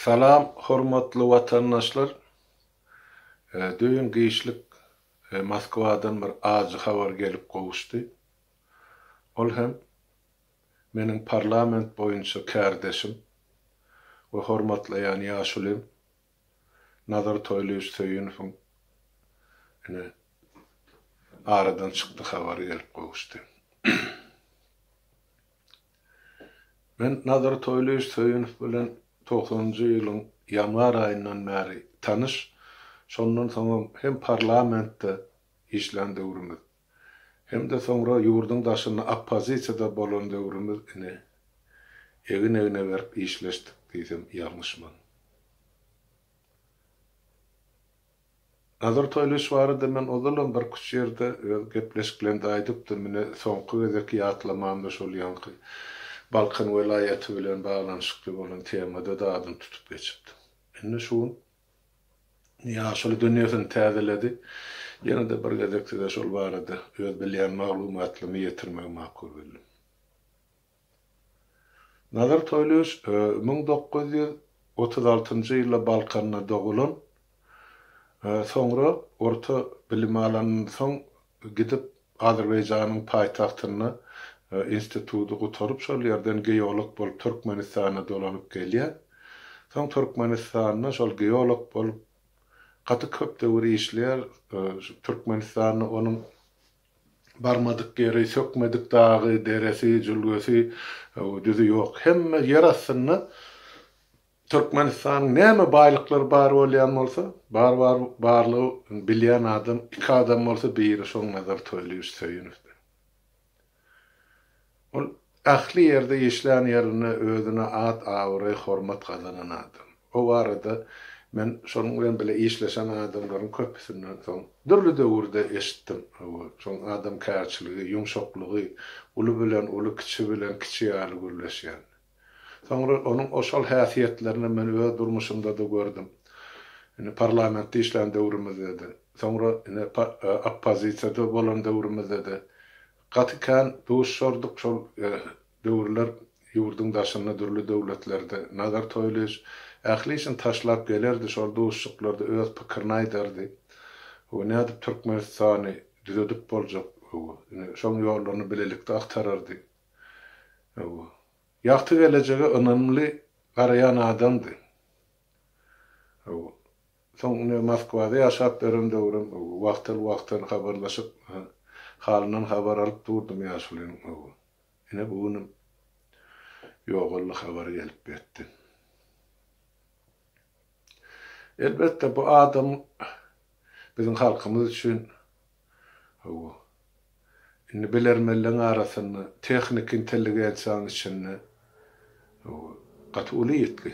Salam hormatly watandaşlar! Düýn giçlik Moskwadan bir ajy habar gelip gowuşdy. Ol hem meniň parlament boýunça kärdeşim we hormatlaýan ýaşulym Nazar Toýlyýewiç Söýünowyň ine aradan çykdy habary gelip gowuşdy. Men Nazar Toýlyýew Söýünow bilen togsanynjy ýylyň ýanwar aýyndan bäri tanyş, şondan soňam hem parlamentde işlän döwrümiz, hem-de soňra ýurduň daşynda oppozisiýada bolan döwrümiz ine, egin-egne berip işleşdik diýsem ýalňyşman. Nazar Toýlyş barada men ozalam birküç ýerde öz gepleşiklerimde aýdypdym, ine, soňky gezek ýatlamam-da şol ýaňky Balkan welaýaty bilen baglanyşykly bolan temada-da adyny tutup geçipdim. Indi şu gün ýaşuly dünýesini täzeledi, ýene-de bir gezek size şol barada öz bilýän maglumatlymy ýetirmegi makul bildim. Nazar Toýlyýew müň dokuz ýüz otuz altynjy ýylda Balkanda dogulan, soňra orta bilimi alandan soň gidip Azerbaýjanyň paýtagtynda instituty gutaryp şol ýerden geolog bolup Türkmenistana dolanyp gelýär. Soň Türkmenistanda şol geolog bolup gaty köp döwür işleýär. Türkmenistanda onuň. Barmadyk ýeri, sökmedik dagy, deresi, jülgesi, düzi ýok. Hemme ýer astynda Türkmenistanyň näme baýlyklary bar bolýan bolsa, bar bar barlygy bilýän adam, iki adam bolsa biri şoň Nazar Toýlyýewiç Söýenowdy. Ol ähli ýerde, işlän ýerinde özüne at-abraý, hormat gazanan adam. O barada men şonuň bilen bile işleşen adamlaryň köpüsinden soň dürli döwürde eşitdim. Hawa, şoň adamkärçiligi, ýumşaklygy, uly bilen uly, kiçi bilen kiçi ýaly gürleşýän. Soňra onuň oşal häsiýetlerini men öz durmuşymda-da gördüm. Indi parlamentde işlän döwrümizde-de, soňra ine oppozisiýada bolan döwrümizde-de Gaty kän duşardyk şol döwürler ýurduň daşynda dürli döwletlerde Nazar Toýlyýewiç ähli işini taşlap gelerdi şol duşuşyklarda öz pikirini aýdardy we nädip Türkmenistany düzedip boljak we şoň ýollaryny bilelikde agtarardy we ýagty gelejege ynamly garaýan adamdy we Soň ine Moskwada ýaşap beren döwrüm wagtal-wagtal habarlaşyp, halyndan habar alyp durdum ýaşulyň. Ine bu günem ýogaldy habary gelip ýetdi. Elbetde bu adam biziň halkymyz üçin Hawa. Indi bilermenleň arasynda tehniki intelligensiýanyň içinde hawa, gaty uly ýitgi.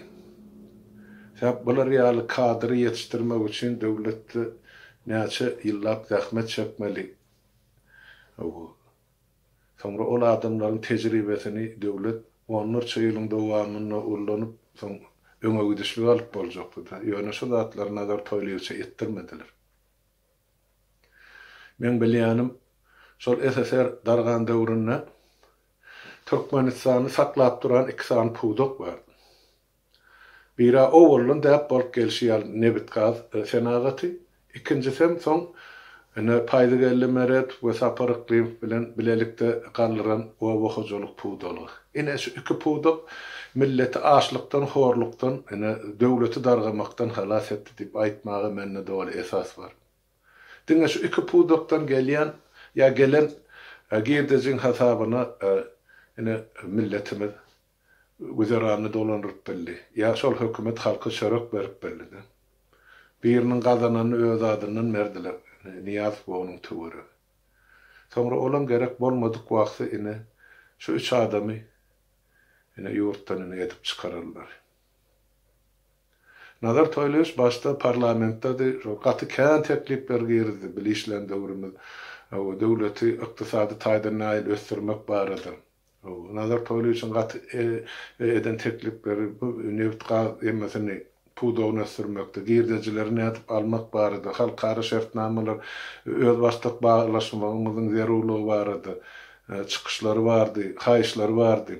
Sebäp bular ýaly kadry ýetişdirmek üçin döwletde näçe ýyllap zähmet çekmeli. Hawa. Soňra ol adamlaryň tejribesini döwlet onlarça ýylyň dowamynda ullanyp, soň öňegidişlik alyp boljakdy-da. Ýöne şu zatlary Nazar Toýlyýewiçe etdirmediler. Meň bilýänim, şol SSR dargan döwründe Türkmenistany saklap duran iki sany pudak bar. Biri-ä owaldan däp bolup gelşi ýaly nebit-gaz senagaty, ikinjisem soň ine Paýzygeldi Meredow we Sapar Yklymow bilen bilelikde galdyran oba hojalyk pudalygy. Ine şu iki pudak milleti açlykdan, horlukdan, ine, döwleti dargamakdan halas etdi diýip aýtmaga mende doly esas bar. Diňe şu iki pudakdan gelýän ýa gelen girdejiň hasabyna, ine, milletimiz güzeranyny dolandyryp bildi. Ýa şol hökümet halka çörek berip bildi-de. Biriniň gazananyny öz adyndan berdiler, Nyýazow we onuň töweregi. Soňra olam gerek bolmadyk wagty ine, şu üç adamy ine ýurtdan ine edip çykararlar. Nazar Toýlyýewiç başda parlamentdedi, şol gaty kän teklipler girizdi, bili işlän döwrümiz, döwleti ykdysady taýdan nähili ösdürmek barada. Nazar Toýlyýewiçiň gat eden teklipleri bu nebit-gaz emmisini pudagyny ösdürmekde, girdejileri nädip almak barada, halkara şertnamalar özbaşdak baglaşmagymyzyň zerurlygy barada çykyşlary bardy, haýyşlary bardy.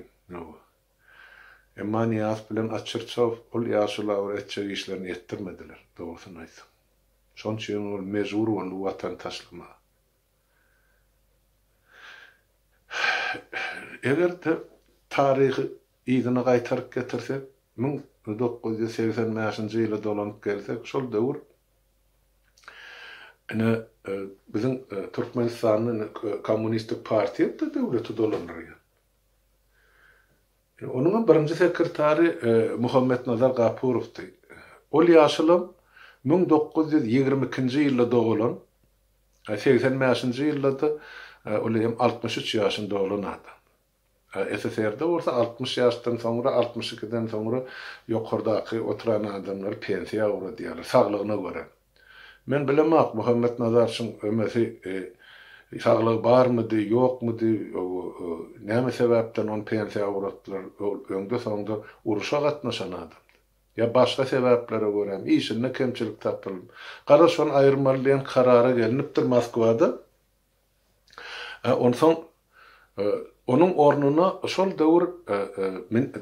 Emma Nyýazow bilen Açyrçow ol ýaşulabara etjek işlerini etdirmediler, dogrusyny aýtsaň. Şonuň üçin ol mejbur boldy Watany taşlamaga. Eger taryhy yzyna gaýtaryp getirsek, müň dokuz ýüz segsen bäşinji ýyla dolanyp gelsek, şol döwür ine, biziň Türkmenistanda kommunistik partiýa-da döwleti dolandyrýar. Onuňam birinji sekretary Muhammetnazar Gapurowdy. Ol ýaşulam müň dokuz ýüz ýigrimi ikinji ýylda dogulan. Segsen bäşinji ýylda-da ol eýýäm altmyş üç ýaşyny dolan adam. SSR-de bolsa altmyş ýaşdan soňra, altmyş ikiden soňra ýokardaky oturan adamlary pensiýa ugradýarlar, saglygyna görä. Men bilemok, Muhammet Nazar şuň ömesi saglygy barmydy, ýokmudy, näme sebäpden ony pensiýa ugratdylar, ol öňde-soňda uruşa gatnaşan adamdy. ýa başga sebäplere görä işinde kemçilik tapylyp, gara şony aýyrmaly diýen karara gelnipdir Moskwada. Onsoň onuň ornuna şol döwür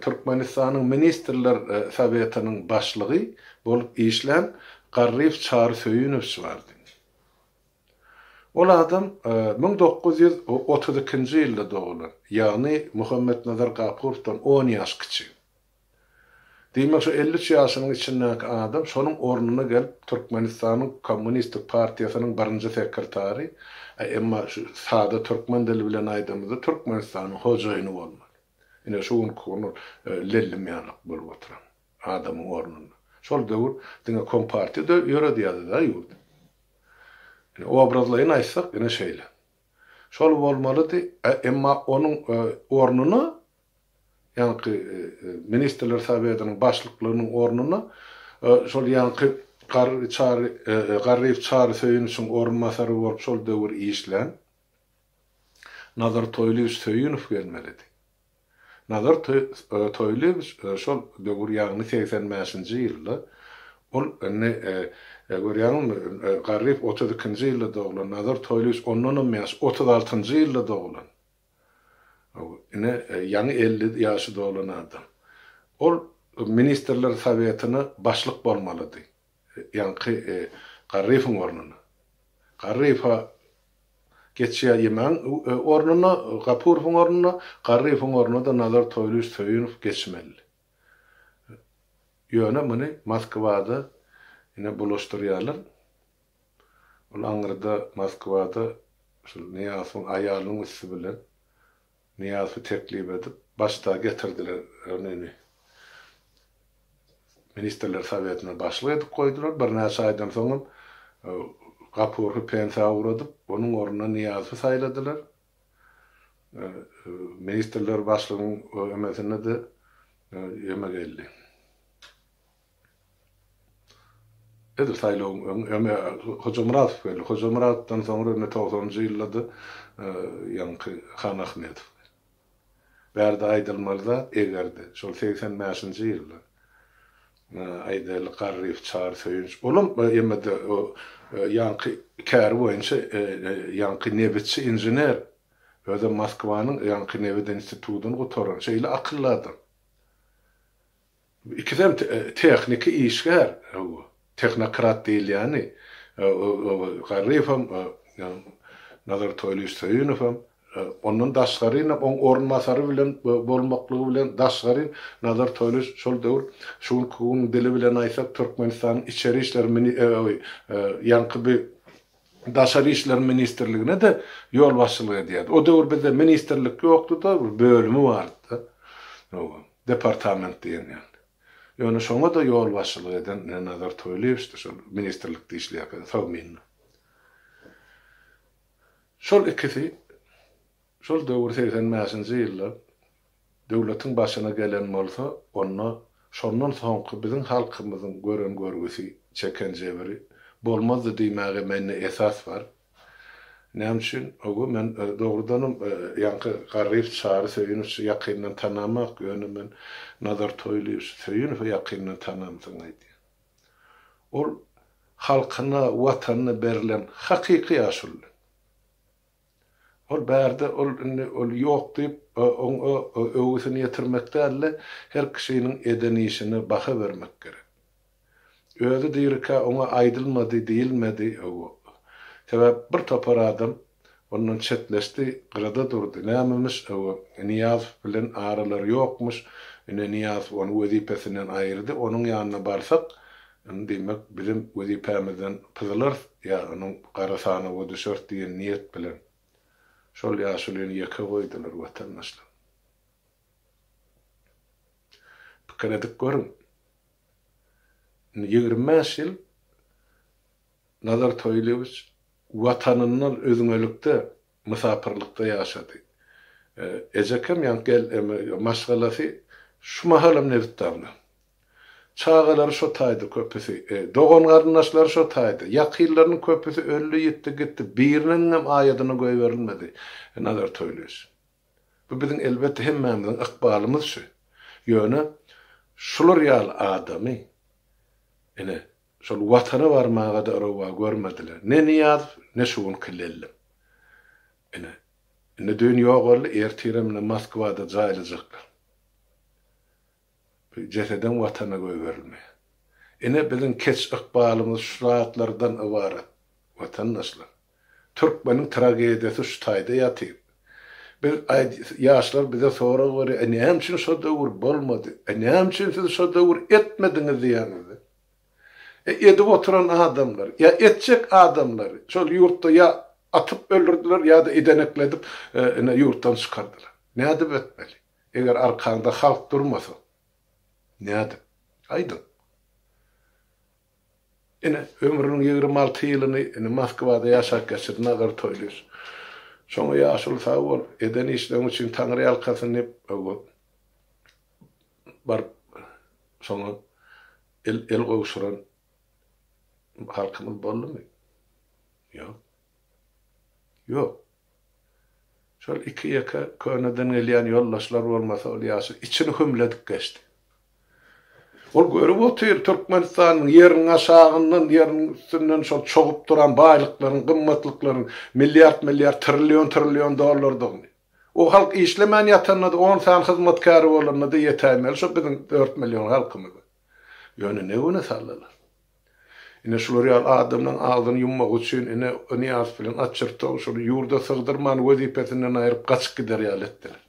Türkmenistanyň Ministrler Sowetiniň başlygy bolup işlän Garryýew Çary Söýünowiç bardy. Ol adam müň dokuz ýüz otuz ikinji ýylda dogulan, ýagny Muhammetnazar Gapurowdan on ýaş kiçi. Diýmek şu elli üç ýaşynyň içindäki adam şonuň ornuna gelip Türkmenistanyň Kommunistik partiýasynyň birinji sekretary, e emma şu sada türkmen dili bilen aýdamyzda Türkmenistanyň hojaýyny bolmaly. Ine şu günki gün ol lellim ýalak bolup oturan adamyň ornunda. Şol döwür diňe kompartiýa dö ýöredýädi-da ýurdy. Ine obrazlaýyn aýtsak ine şeýle. Şol bolmalydy, e emma onuň ornuna Ýaňky Ministrler Sowetiniň başlyklygynyň ornuna şol ýaňky Garry Çary Garryýew Çary Söýüniçiň orunbasary bolup şol döwür işlän Nazar Toýlyýewiç Söýünow gelmelidi. Nazar Toýlyýewiç şol döwür ýagny segsen bäşinji ýylda ol indi görýäňizmi Garryýew otuz ikinji ýylda doglan Nazar Toýlyýewiç ondanam ýaş otuz altynjy ýylda doglan. Ine, ýaňy elli ýaşy dolan adam. Ol Ministrler Sowetine başlyk bolmalydy, ýaňky Garryýewiň ornuna. Garryýew-ä geçýär Ýemagyň ornuna, Gapurowyň ornuna, Garryýewiň ornuna-da Nazar Toýlyýewiç Söýünow geçmelidi. Ýöne muny Moskwada ine bulaşdyrýarlar. Ol aňyrda Moskwada şol Nyýazowyň aýalynyň üsti bilen Nyýazowy teklip edip, başdagy getirdiler. Ony Ministrler Sowetine başlyk edip goýdular. Birnäçe aýdan soňam Gapurhy pensiýa ugradyp, onuň ornuna Nyýazowy saýladylar. Ministrler başlygyň emesinde-de ýeme geldi. Edil saýlawyň öň, öňe Hojamyradow geldi. Hojamyradowdan soňra indi togsanynjy ýylda-da ýaňky Han Ahmedow geldi. Bärde aýdylmaly zat, eger-de, şol segsen bäşinji ýylda, aýdaýlyk, Garryýew, Çary, Söýünç, olam, emme-de, o ýaňky käri boýunça ýaňky nebitçi, inžener, özem Moskwanyň ýaňky nebit institudyny gutaran, şeýle akylly adam. Bu ikisem tehniki işgär, hawa, tehnokrat diýilýäni, Garryýewem, Nazar Toýlyýewiç Söýünowem, ondan daşgaryn hem oň orunbasary bilen bolmaklygy bilen daşgaryn Nazar Toýlyýewiç şol döwür, şu günki gün dili bilen aýtsak, Türkmenistanyň içeri işler mini, hawa, ýaňky bi Daşary işler ministrligine-de ýolbaşçylyk edýärdi. O döwür bizde ministrlik ýokdy-da, bir bölümi bardy-da. Oba, departament diýen ýaly. Ýöne şoňa-da ýolbaşçylyk eden Nazar Toýlyýewiçdi şol ministrlikde işleýärkede Sogminde. Şol ikisi Şol döwür segsen bäşinji ýylda döwletiň başyna gelen bolsa, onda şondan soňky biziň halkymyzyň gören görgüsi, çeken jebiri bolmazdy diýmäge mende esas bar. Näme üçin? Öwgi men dogrudanam ýaňky Garryýew Çary Söýünowiçi ýakyndan tanamok, ýöne men Nazar Toýlyýewiç Söýünowy ýakyndan tanamsoň aýdýan. Ol halkyna, watanyna berlen hakyky ýaşuly. Ol bärde ol indi ol ýok diýip oňa öwgüsini ýetirmek dälde her kişiniň eden işine baha bermek gerek. Özi dirikä oňa aýdylmady diýilmedi öw. Sebäp bir topar adam ondan çetleşdi gyrada durdy nämemyş öw Nyýazow bilen aralary ýokmyş ine Nyýazow ony wezipesinden aýyrdy onuň ýanyna barsak Indi diýmek, bizem wezipämizden pyzlarys ýa onuň gara sanawa düşeris diýen niýet bilen, şol ýaşulyny ýeke goýdular, watandaşlar. Pikir edip görüň. Indi ýigrimi bäş ýyl Nazar Toýlyýewiç Watanyndan özňelikde Mysapyrlykda ýaşady. Ejekem ýa-ni gel maşgalasy şu mahalam Nebitdagda. Çagalary şo taýda köpüsi. Dogan-garyndaşlary şo taýda. Ýakynlarynyň köpüsi öldi, ýitdi, gitdi. Biriniňem aýadyna goýberilmedi. Nazar Toýlyýewiç. Bu biziň elbetde hemmämiziň ykbalymyz şu. Ýöne şular ýaly adamy, ine, Şol Watana barmaga-da rowa görmediler. Ne Nyýazow, ne şu günki Lellem. Ine, indi düýn ýogaldy, ertirem ine Moskwada jaýlajaklar. Bu jesedem Watana goýberilmeýär. Ine, biziň keç ykbalymyz şu zatlardan ybarat, watandaşlar. Türkmeniň tragediýasy şu taýda ýatyr. Biz aýt ýaşlar bize sorag berýär, e näme üçin şo döwür bolmady, e näme üçin siz şo döwür etmediňiz diýýäňizde. E edip oturan adamlar, ýa etjek adamlar şol ýurtda ýa atyp öldürdiler ýa-da idenekledip ine ýurtdan çykardylar. Nädip etmeli? Eger arkaňda halk durmasa. Nädip? Aýdyň. Ine, ömrüniň ýigrimi alty ýylyny indi Moskwada ýaşap geçirdi Nazar Toýlyýew. Şoňa ýaşuly sag bol, eden işleň üçin taňryýalkasyn diýip, oba baryp, şoňa el gowşuran halkymyz boldumy? Ýok. Ýok. Şol iki-ýeke köneden gelýän ýoldaşlar bolmasa ol ýaşyl içini hümledip geçdi. Ol görüp otyr, Türkmenistanyň ýeriniň aşagyndan, ýeriniň üstünden şol çogup duran baýlyklaryň, gymmatlyklaryň milliard-milliard, trillion-trillion dollardygyny. O halk işlemän ýatanda-da, on sany hyzmatkäri bolanda-da ýetäýmeli şo biziň dört million halkymyza. Ýöne ne güne saldylar? Ine, şular ýaly adamlaň agzyny ýummagy üçin, ine, o Nyýazow bilen Atçyrtow şuny ýurda sygdyrman, wezipesinden aýryp, gaçyp gider ýaly etdiler.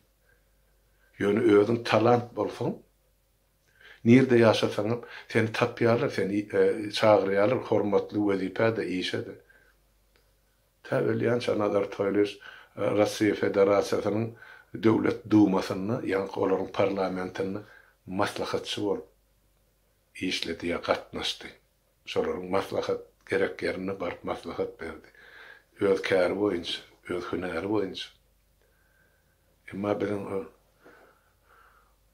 Ýöne özüň talant bolsaň, nirde ýaşasaňam, seni tapýarlar, seni çagyrýarlar hormatly wezipä-de, işe-de. Tä ölýänçä Nazar Toýlyýewiç Russiýa Federasiýasynyň Döwlet Dumasynda, ýaňky olaryň parlamentinde maslahatçy bolup, işledi ýa gatnaşdy. Şolaryň maslahat gerek ýerinde baryp maslahat berdi. Öz käri boýunça, öz hünäri boýunça. Emma biziň o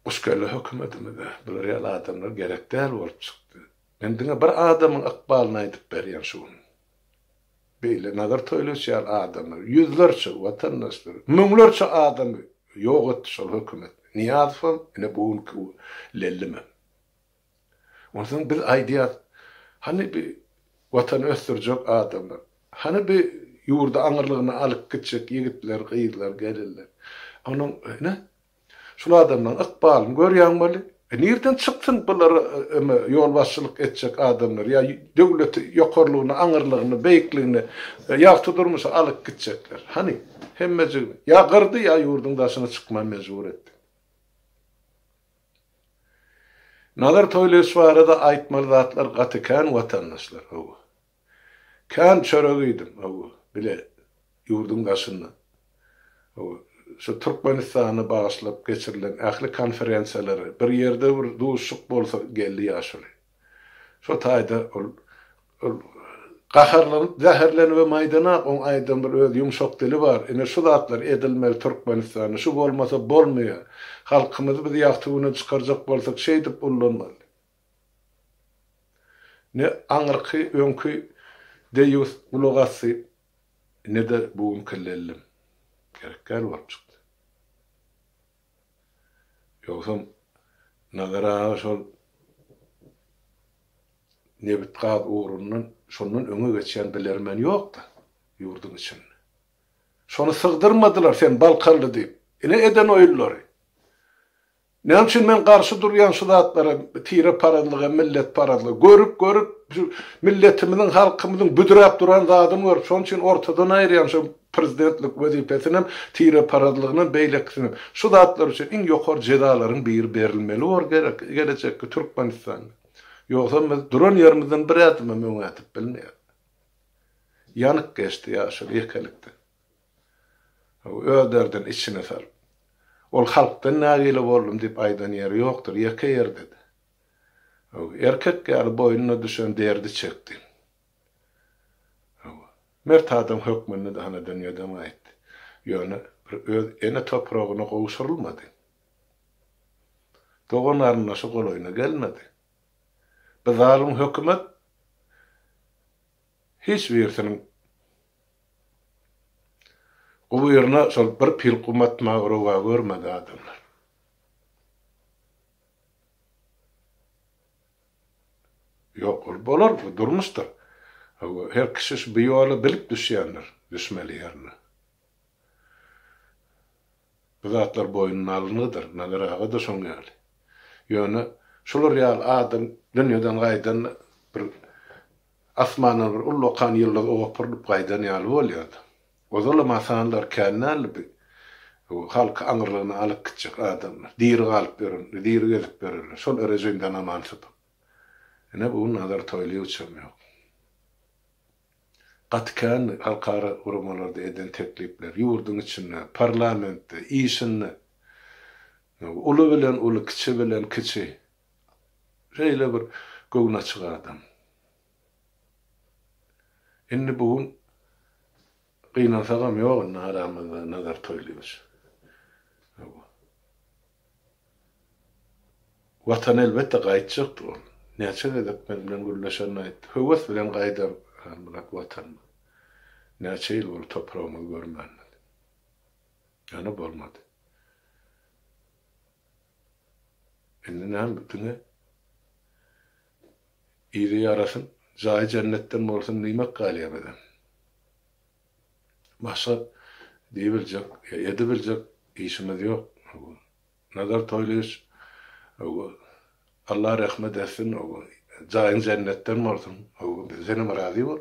guşkelle hökümetimize bular ýaly adamlar gerek däl bolup çykdy. Men diňe bir adamyň ykbalyny aýdyp berýän şu gün. Beýle Nazar Toýlyç ýaly adamlar ýüzlerçe watandaşlary, müňlerçe adamy ýok etdi şol hökümet. Nyýazowam, ine bu günki bu lellimem. Onsoň biz aýdýas, Hany bi Watany ösdürjek adamlar? Hany bi ýurdy aňyrlygyna alyp gitjek ýigitler, gyzlar, gelinler? Onuň, ine, şul adamlaryň ykbalyny görýäň weli. E nirden çyksyn bulara öme ýolbaşçylyk etjek adamlar ýa döwleti ýokarlygyna, aňyrlygyna, beýikligine, ýagty durmuşa alyp gitjekler? Hany, hemmejigini ýa gyrdy ýa ýurduň daşyna çykmaga mejbur etdi. Nazar Toýlyýewiç barada aýtmaly zatlar gaty kän watandaşlar, hawa. Kän çörek iýdim, hawa, bile ýurduň daşynda. Hawa, şu Türkmenistana bagyşlap geçirilen ähli konferensiýalary, bir ýerde bir duşuşyk bolsa geldi ýaşuly. Şo taýda ol gaharlanyp, zäherlenibem aýdanok, oň aýdan bir öz ýumşak dili bar, ine şu zatlar edilmeli Türkmenistanda, şu bolmasa bolmaýar. Halkymyzy biz ýagty güne çykarjak bolsak şeýdip ullanmaly. Ne aňyrky, öňki deýýus gulak asdy, ne-de bu günki lellem. Gerek däl bolup çykdy. Ýogsam Nazar aga şol nebit-gaz ugrundan şondan öňe geçýän bilermen ýok-da ýurduň içinde. Şony sygdyrmadylar sen balkanly diýip. Ine eden oýunlary. Näme üçin men garşy durýan şu zatlara tireparazlyga, milletparazlyga? Görüp, görüp şu milletimiziň, halkymyzyň büdräp duran zadyny görüp, şonuň üçin ortadan aýyrýan şu Prezidentlik wezipesinem, tireparazlygynam, beýlekisinem. Şu zatlar üçin iň ýokary jezalaryň biri berilmeli bor gerek gelejekki Türkmenistanda. Ýogsam biz duran ýerimizden bir ädimem öňe ädip bilmeýäris. Ýanyk geçdi ýaşuly ýekelikde. Öz derdini içine salyp. Ol halkdan nägile boldum diýip aýdan ýeri ýokdur, ýeke ýerde-de. Erkek ýaly boýnuna düşen derdi çekdi. Hawa, mert adam hökmünde-de hana dünýeden gaýtdy. Ýöne bir öz ene topragyna gowşurylmady. Dogan-garyndaşy golaýyna gelmedi. Bu zalym hökümet hiç birisiniň guburyna şol bir pil gum atmagy rowa görmedi adamlar. Ýok, ol bolar, bu durmuşdyr. Hawa, her kişi şu bu ýola bilip düşýändir, düşmeli ýerine. Bu zatlar boýnuna alyngydyr, Nazar aga-da şoň ýaly. Ýöne şular ýaly adam dünýeden gaýdanda bir asmandan bir ullakan ýyldyz opurylyp gaýdan ýaly bolýar-da. Ozalam hasanlar kän däldi bi halky aňyrlygyna alyp gitjek adamlar. Diri galyp ýören, diri gezip ýörenler. Şol erejimden aman sypyp. Ine bu gün Nazar Toýlyýewiçem ýok. Gaty kändi halkara guramalarda eden teklipleri, ýurduň içinde, parlamentde, işinde. Uly bilen uly, kiçi bilen kiçi. Şeýle bir göwnaçyk adam. Indi bu gün gynansagam ýok indi aramyzda Nazar Toýlyýewiç. Watana elbetde gaýtjakdyr ol. Näçe gezek men bilen gürleşenini aýtdy. Höwes bilen gaýdar Halmyrat Watanyna. Näçe ýyl boldy topragymyzy görmänimize. Ýöne bolmady. Indi näme diňe Ile ýaraşyp, jaýy jennetden bolsun diýmek galýar bize. Başga diýibiljek ýa edibiljek işimiz ýok. Nazar Toýlyýewiç Alla rehmet etsin, jaýyň jennetden bolsun. Senem razy bol.